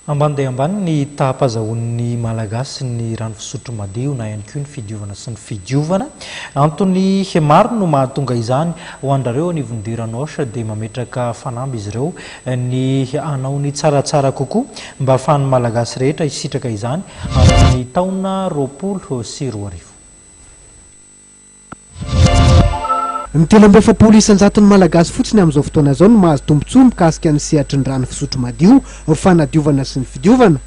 Ambany dia ambany ny taham-pazahoan'ny Malagasy ny rano fisotro madio na ihany koa ny fidiovana sy ny fidiovana. Antony maro no mahatonga izany. Ho andrareo anivon'Dieu Ranoche dia mametraka fanamby izy ireo ny hanao ny tsaratsara kokoa mba ahafahan'ny Malagasy rehetra hisitraka izany amin'ny taona roapolo sy roa arivo. Ny telo amby efapolo isan-jaton'ny Malagasy fotsiny amin'izao fotoana izao no mahazo tombontsoa mikasika ny sehatry ny rano fisotro madio, fanadiovana sy ny fidiovana.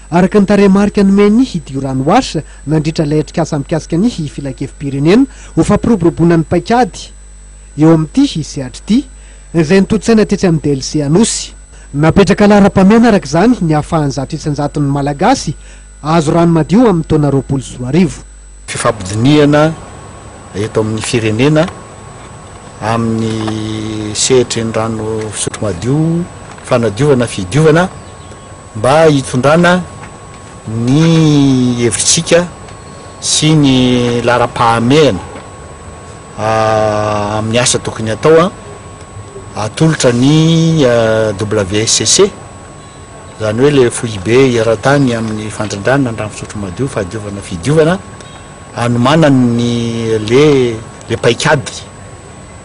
Araka ny tarehimarika nomen'ny Hidiorano Watch nandritra ilay atrikasa mikasika ny Filankevi-pirenena ho fampiroboroboana ny paikady eo amin'ity sehatra ity, izay notontosaina tetsy amin'ny DLC Anosy. Napetraka laharam-pahamehana araka izany ny ahafahan'ny zato isan-jaton'ny Malagasy Hahazo rano madio amin'ny taona roapolo sy roa arivo. Fifampidinihana eto amin'ny firenena amin'ny sehatry ny rano fisotro madio, fanadiovana, fidiovana mba hitondrana ny hevitritsika sy ny laharam-pahamehana amin'ny asa tokony hatao, atolotra ny WSCC. Izany hoe ilay foibe eran-tany amin'ny fandrindrana ny rano fisotro madio, fahadiovana, fidiovana, hanomanany ny le le paikady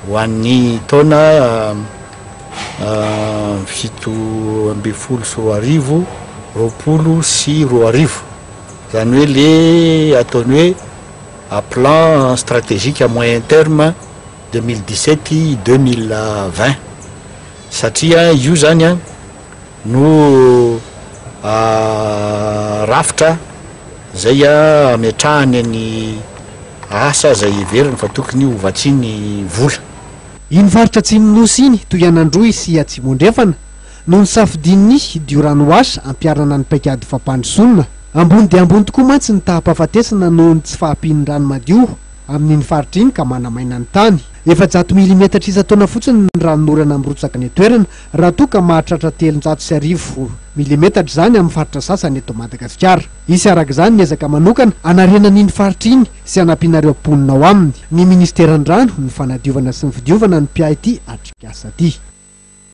ho an'ny taona fito ambin'ny folo sy roa arivo, roapolo sy roa arivo. Izany hoe le ataony hoe plan stratégique à moyen terme deux mille dix-sept, deux mille vingt. Satria io izany an, no rafitra izay ametrahany ny asa izay heveriny fa tokony ho vatsiany vola. Iny faritra atsimon'ny Nosy iny, toy an'Androy sy Atsimo-Andrefana, no nosafidian'ny Diorano Washa hampiharana ny paikady fampandrosoana. Ambony dia ambony tokoa mantsy ny taha-pahafatesana noho ny tsy fahampian'ny rano madio. amin'iny faritra iny ka manamaina ny tany. Efajato milimetatra isan-taona fotsiny ny ranon'orana mirotsaka any an-toerana, raha toa ka mahatratra telonjato sy arivo milimetatra izany amin'ny faritra sasany eto Madagasikara. Hisy araka izany ny ezaka manokana hanarenana iny faritra iny sy hanampiana ireo mponina ao aminy ny Ministeran'ny Rano, ny Fanadiovana sy ny Fidiovana ny mpiahy ity atrikasa ity.